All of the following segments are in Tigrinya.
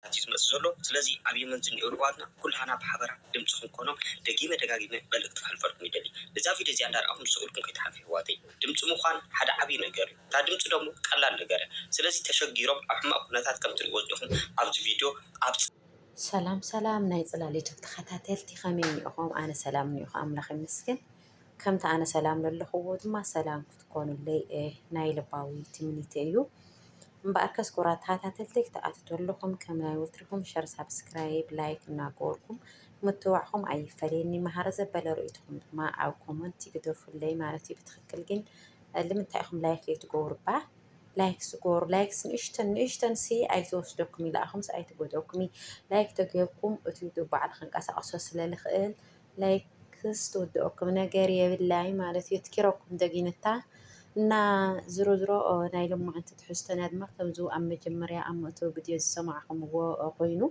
ኵነታት እዩ ዝመጽእ ዘሎ። ስለዚ ኣብ የመን ዝንኤዉ የሕዋትና ኩላህና ብሓበራ ድምጺ ክንኮኖም ደጊመ ደጋጊመ መልእክቲ ከሕልፈልኩም ይደሊ። እዛ ቪድዮ እዚኣ እንዳረኣኹም ስቕ ኢልኩም ከይትሓልፉ የሕዋተይ። ድምጺ ምዃን ሓደ ዓቢ ነገር እዩ። እታ ድምጺ ደሞ ቀላል ነገር እያ። ስለዚ ተሸጊሮም ኣብ ሕማቕ ኩነታት ከም ትርእይዎ ዝኔኹም ኣብዚ ቪድዮ ኣብ። ሰላም ሰላም ናይ ጽላል ዩቱብ ተኸታተልቲ ከመይ እኒኦኹም ኣነ ሰላም እኒኦኹ ኣምላኽ ይመስገን። ከምቲ ኣነ ሰላም ለለኹዎ ድማ ሰላም ክትኮኑለይ ናይ ልባዊ ትምኒተ እዩ። እምበኣር ከስ ኩራት ተኸታተልቲ ክትኣትቱ ኣለኹም ከም ናይ ወትርኹም ሸር ሳብስክራይብ ላይክ እናገበርኩም ምትዋዕኹም ኣይፈለየኒ መሃሪ ዘበለ ርእይትኹም ድማ ኣብ ኮመንት ይግደፉለይ ማለት እዩ። ብትክክል ግን ልምንታይ ኢኹም ላይክ ዘይትገብሩ እባ ላይክ ስገሩ ላይክ ንእሽተን ንእሽተን ሲ ኣይተወስደኩም ኢላኣኹምስ ኣይትጎደኩም ላይክ ተገይርኩም እቲ ዩቱብ ባዕሉ ክንቀሳቀሶ ስለልኽእል ላይክስ ትውድኦኩም ነገር የብላይ ማለት እዩ ትኪረኩም ደጊንታ እና ዝሮ ዝሮ ናይ ልማዓንቲ ትሕዝቶና ድማ ከምዚ ኣብ መጀመርያ ኣብ መእተዊ ቪድዮ ዝሰማዕኹምዎ ኮይኑ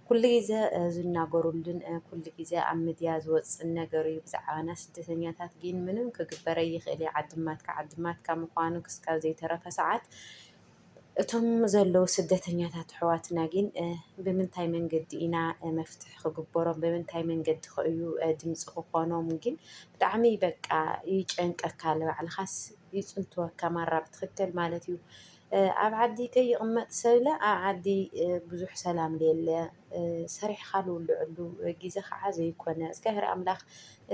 ኩሉ ግዜ ዝናገሩሉን ኩሉ ግዜ ኣብ ሚድያ ዝወፅን ነገር እዩ ብዛዕባና ስደተኛታት ግን ምንም ክግበረ ይኽእል እዩ ዓድማትካ ዓድማትካ ምዃኑ ክስካብ ዘይተረፈ ሰዓት እቶም ዘለዉ ስደተኛታት ኣሕዋትና ግን ብምንታይ መንገዲ ኢና መፍትሒ ክግበሮም ብምንታይ መንገዲ ከእዩ ድምፂ ክኾኖም ግን ብጣዕሚ በቃ ይጨንቀካ ንባዕልኻስ ይፅንትወካ ማራ ብትኽክል ማለት እዩ ኣብ ዓዲ ከይቕመጥ ሰብለ ኣብ ዓዲ ብዙሕ ሰላም ለየለ ሰሪሕኻ ልውልዐሉ ግዜ ኸዓ ዘይኮነ እግዚኣብሔር ኣምላኽ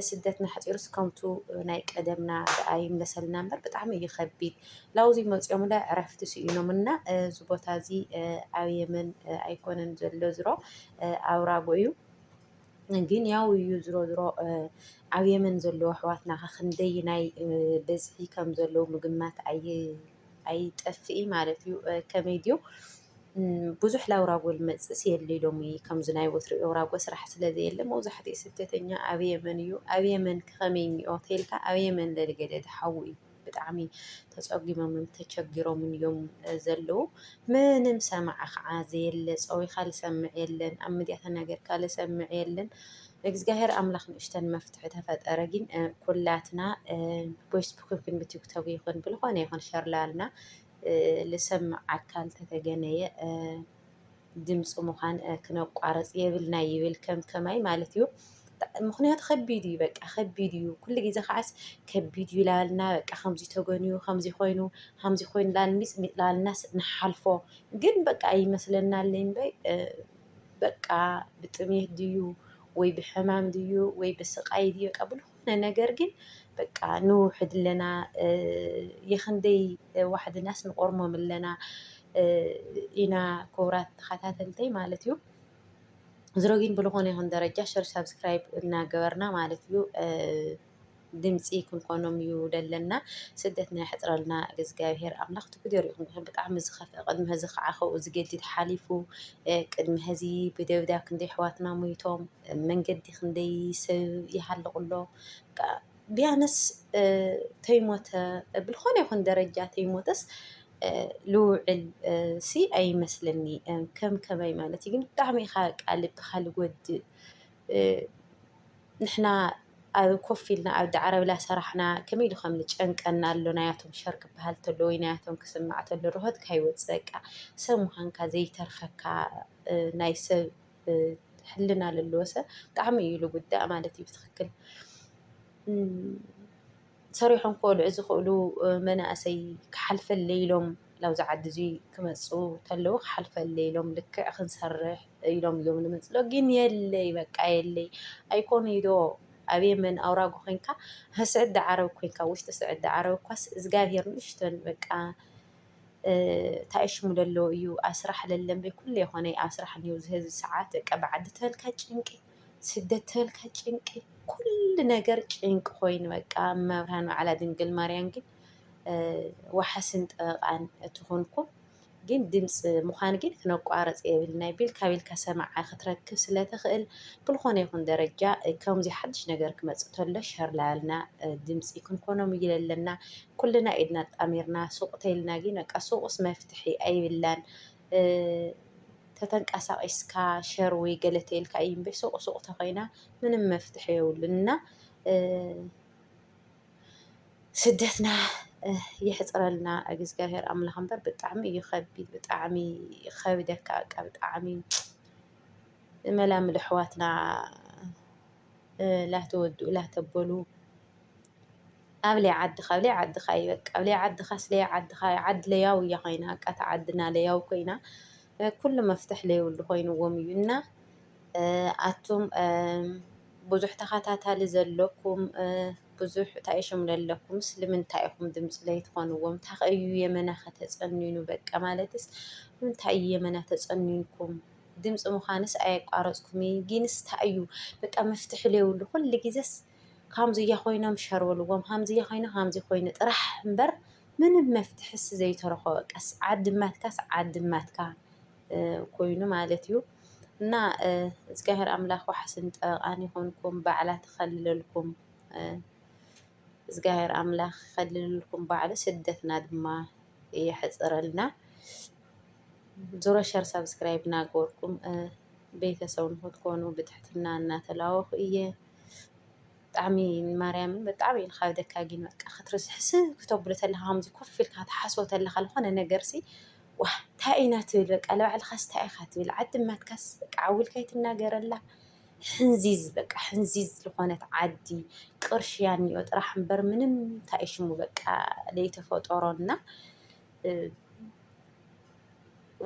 ስደትና ኣሕፂሩስ ከምቱ ናይ ቀደምና ደኣ ይምለሰልና እምበር ብጣዕሚ እዩ ከቢድ። ላውዚ መፂኦም ለ ዕረፍቲ ስኢኖም እና እዚ ቦታ እዚ ኣብ የመን ኣይኮነን ዘሎ ዝሮ ኣብ ራጎ እዩ። ግን ያው እዩ ዝሮ ዝሮ ኣብ የመን ዘለዉ ኣሕዋትና ኸ ክንደይ ናይ ብዝሒ ከም ዘለዉ ምግማት ኣይጠፍእይ ማለት እዩ። ከመይ ድዩ? ብዙሕ ላውራጎል መጽእስ የልይ ሎሚ ከምዚ ናይ ወትሩ ኤውራጎ ስራሕ ስለ ዘየለ መብዛሕትኡ ስደተኛ ኣብ የመን እዩ ኣብ የመን ከኸመይ እኒኦ ተልካ ኣብ የመን ለልገደ ድሓዉ እዩ ብጣዕሚ ተጸጊሞምን ተቸጊሮምን እዮም ዘለዉ ምንም ሰማዕ ኸዓ ዘየለ ጸዊኻ ልሰምዕ የለን ኣብ ምድያ ተናገርካ ልሰምዕ የለን እግዚኣብሔር ኣምላኽ ንእሽተን መፍትሒ ተፈጠረ ግን ኩላትና ቦይስቡክ ክንብትግተቡ ይኹን ብልኾነ ይኹን ሸርላልና ልሰምዕ ኣካል ተተገነየ ድምፂ ምዃን ክነቋረፅ የብልና ይብል ከም ከማይ ማለት እዩ። ምክንያቱ ከቢድ እዩ በቃ ከቢድ እዩ ኩሉ ግዜ ከዓስ ከቢድ እዩ ላልና በቃ ከምዚ ተገንዩ ከምዚ ኮይኑ ከምዚ ኮይኑ ላልሚፅ ሚፅ ላልናስ ንሓልፎ ግን በቃ ይመስለናል እምበይ በቃ ብጥሜት ድዩ ወይ ብሕማም ድዩ ወይ ብስቃይ ድዩ በቃ ነገር ግን በቃ ንውሕድ ኣለና የክንደይ ዋሕድናስ ንቆርሞም ኣለና ኢና ክቡራት ተኸታተልተይ ማለት እዩ። ዝሮ ግን ብልኾነ ይኹን ደረጃ ሸር ሳብስክራይብ እናገበርና ማለት እዩ ድምፂ ክንኮኖም እዩ ደለና ስደትና የሕፅረልና እግዚኣብሄር ኣምላኽ ትጉደር ይኹን ብጣዕሚ ዝኸፍአ ቅድሚ ህዚ ከዓ ከብኡ ዝገድድ ሓሊፉ ቅድሚ ህዚ ብደብዳብ ክንደይ ኣሕዋትና ሞይቶም መንገዲ ክንደይ ሰብ ይሃልቕ ኣሎ ቢያነስ ተይሞተ ብልኾነ ይኹን ደረጃ ተይሞተስ ልውዕል ሲ ኣይመስለኒ ከም ከመይ ማለት እዩ ግን ብጣዕሚ ኢኻ ቃልብኻ ልጎድእ ንሕና ኣብ ኮፍ ኢልና ኣብ ዳዕረብላ ሰራሕና ከመይ ኢሉ ከም ልጨንቀና ኣሎ ናያቶም ሸር ክበሃል ተሎ ወይ ናያቶም ክስማዕ ተሎ ርሆትካ ይወፅእ በቃ ሰብ ምዃንካ ዘይተርፈካ ናይ ሰብ ሕልና ለለዎ ሰብ ብጣዕሚ እዩ ልጉዳእ ማለት እዩ። ብትኽክል ሰሪሖም ክበልዑ ዝኽእሉ መናእሰይ ክሓልፈለይ ኢሎም ናብዚ ዓዲ እዚ ክመፁ ተለው ክሓልፈለይ ኢሎም ልክዕ ክንሰርሕ ኢሎም እዮም ዝመፅኡ ዶ ግን የለይ በቃ የለይ ኣይኮኑይ ዶ ኣብ የመን ኣውራጎ ኮይንካ ኣብ ስዕዲ ዓረብ ኮይንካ ውሽጢ ስዕዲ ዓረብ እኳስ እዝጋብሄር ንእሽተን በቃ ታይ ሽሙ ለሎ እዩ ኣስራሕ ለለምበ ኩሉ የኾነ ኣስራሕ ን ዝህዚ ሰዓት ቀ ብዓዲ ተበልካ ጭንቂ ስደት ተበልካ ጭንቂ ኲሉ ነገር ጭንቂ ኾይኑ በቃ መብርሃን በዓላ ድንግል ማርያም ግን ወሓስን ጠበቓን እትኾንኩም ግን ድምፂ ምዃን ግን ክነቋረፅ የብልናይ ቢልካ ቢልካ ሰማዓ ክትረክብ ስለትኽእል ብልኾነ ይኹን ደረጃ ከምዚ ሓድሽ ነገር ክመፅእ ተሎ ሸር ላያልና ድምፂ ክንኮኖም እይለለና ኩልና ኢድና ኣጣሚርና ሱቅ ተይልና ግን በቃ ሱቅስ መፍትሒ ኣይብላን ተተንቃሳቂስካ ሸር ወይ ገለ ተይልካ እዩ እምበይ ሱቅ ሱቅ ተኮይና ምንም መፍትሒ የብሉን እና ስደትና የሕፅረልና እግዚኣብሔር ኣምላኽ እምበር ብጣዕሚ እዩ ከቢድ ብጣዕሚ ከብደካ በቃ ብጣዕሚ መላምል ኣሕዋትና ላተወድኡ ላተበሉ ኣብለይ ዓድካ ኣብለይ ዓድካ እዩ በቃ ኣብለይ ዓድካ ስለይ ዓድካ እዩ ዓድ ለያው እያ ኮይና በቃ እታ ዓድና ለያው ኮይና ኩሉ መፍትሕ ለይብሉ ኮይንዎም እዩ እና ኣቱም ብዙሕ ተኸታታሊ ዘለኩም ብዙሕ እንታይ ሽም ለለኩም ስለምንታይ ኢኹም ድምፂ ለይትኾንዎም እንታይ እዩ የመና ከተፀንኑ በቃ ማለትስ እንታይ እዩ የመና ተፀኒንኩም ድምፂ ምዃንስ ኣየቋረፅኩምን ጊንስ እንታይ እዩ በቃ መፍትሒ ለይብሉ ኩሉ ጊዜስ ካምዙያ ኮይኖም ሸርበልዎም ሃምዙያ ኮይኑ ሃምዙ ኮይኑ ጥራሕ እምበር ምንም መፍትሕስ ዘይተረኾ ቀስ ዓድማትካስ ዓድማትካ ኮይኑ ማለት እዩ እና እግዚኣብሔር ኣምላኽ ዋሕስን ጠበቃን ይኾንኩም ባዕላ ተኸልለልኩም እግዚኣብሔር ኣምላኽ ከልልልኩም ባዕሉ ስደትና ድማ የሕፅረልና ዙሮ ሸር ሳብስክራይብ ናገበርኩም ቤተሰብ ንክትኮኑ ብትሕትና እናተላወኹ እየ ብጣዕሚ ማርያም ብጣዕሚ እዩ ዝኸብደካ ግን በቃ ክትርስዕ ስቅ ክተብሎ ተለካ ከምዚ ኮፍ ኢልካ ትሓስቦ ተለካ ዝኾነ ነገር ሲ ዋእ ታይ ኢና ትብል በቃ ንባዕልኻስ ታይ ኢኻ ትብል ዓዲ እማትካስ በቃ ዓው ኢልካ ኣይትናገረላ ሕንዚዝ በቃ ሕንዚዝ ዝኾነት ዓዲ ቅርሺ ያንዮ ጥራሕ እምበር ምንም ታይ እዩ ሽሙ በቃ ዘይተፈጠሮ እና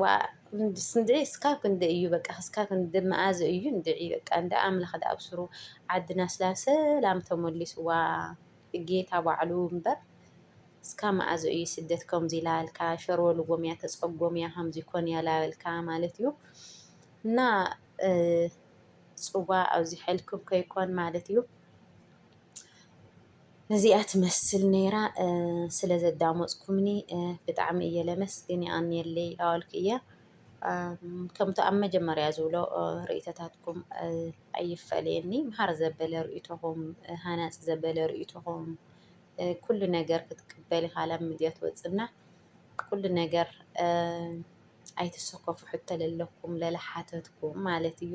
ዋእስንድዒ እስካብ ክንዲ እዩ በቃ እስካብ ክንዲ መኣዝ እዩ እንድዒ በቃ እንደ ኣምላኽ ዳ ኣብስሩ ዓድና ስላ ሰላም ተመሊስዋ ጌታ ባዕሉ እምበር እስካ መኣዝ እዩ ስደት ከምዚ ላበልካ ሸርበልዎም እያ ተጸጎም እያ ከምዚ ኮን እያ ላበልካ ማለት እዩ እና ጽዋ ኣብዚ ሐልኩም ከይኮን ማለት እዩ ነዚኣ ትመስል ነይራ ስለ ዘዳመፅኩምኒ ብጣዕሚ እየ ለመስግን ይኣንየለይ ኣዋልክ እየ ከምቲ ኣብ መጀመርያ ዝብሎ ርእይቶታትኩም ኣይፈለየኒ መሃር ዘበለ ርእይቶኹም ሃናፂ ዘበለ ርእይቶኹም ኩሉ ነገር ክትቅበል ኢኻ ላብ ሚድያ ትወፅና ኩሉ ነገር ኣይትሰከፉ ሕቶ ለለኩም ለለሓተትኩም ማለት እዩ